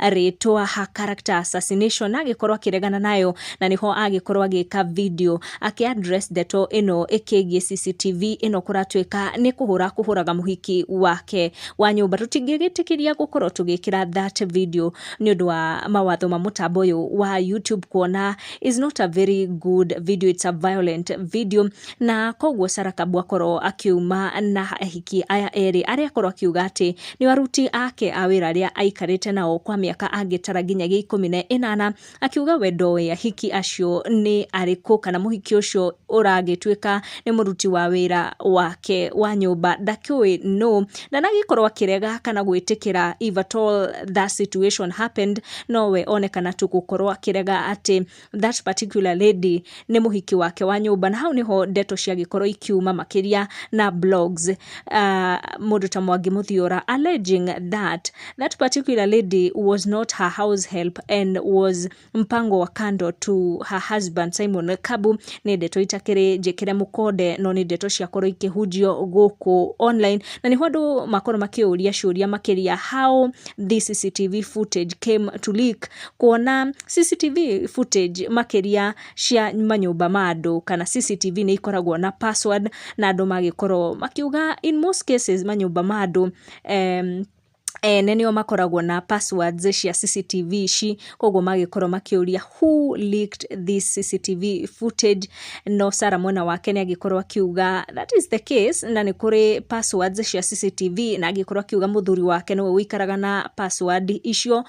rĩtwa ha character assassination agĩkorwo akĩregana nayo na nĩho agĩkorwo agĩka video akĩ address ndeto ĩno ĩkĩgiĩ CCTV ĩno kũratuĩka nĩ kũhũra kũhũraga mũhiki wake wa nyũmba tũtingĩgĩtĩkĩria gũkorwo tũgĩkĩra that video nĩ ũndũ wa mawatho ma mũtambo ũyũ wa YouTube kuona is not a very good video it's a violent video Na koguo Sarakabu akorwo akiuma na ahiki aya erĩ arĩa akorwo akiuga atĩ nĩo aruti ake a wĩra arĩa aikarĩte nao kwa mĩaka angĩtara nginyagia ikũmi na ĩnana, akiuga we ndoĩ ahiki acio nĩ arĩkũ kana mũhiki ũcio ũragĩtuĩka nĩ mũruti wa wĩra wake wa nyũmba ndakĩũĩ nũ. Ndanagĩkorwo akĩrega kana gwĩtĩkĩra if at all that situation happened, nowe onekana tu gũkorwo akĩrega atĩ that particular lady nĩ mũhiki wake wa nyũmba na hau nĩho ndeto ciagĩkorwo ikiuma makĩria na blogs uh, mũndũ ta mwangi mũthiora alleging that that particular lady was not her house help and was mpango wa kando to her husband simon kabu nĩ ndeto itakĩrĩ njĩkĩre mũkonde no nĩ ndeto ciakorwo ikĩhunjio gũkũ online na nĩho andũ makorwo makĩũria ciũria makĩria how this cctv footage came to leak kuona CCTV footage makĩria cia manyũmba ma andũ kana CCTV nĩ ikoragwo na password na andũ magĩkorwo makiuga in most cases manyũmba ma andũ em, ene nĩo makoragwo na passwords cia CCTV ici koguo magĩkorwo makĩũria who leaked this CCTV footage no Sarah mwena wake nĩ agĩkorwo akiuga that is the case na nĩ kũrĩ passwords cia CCTV na agĩkorwo akiuga mũthuri wake nĩwe ũikaraga na password icio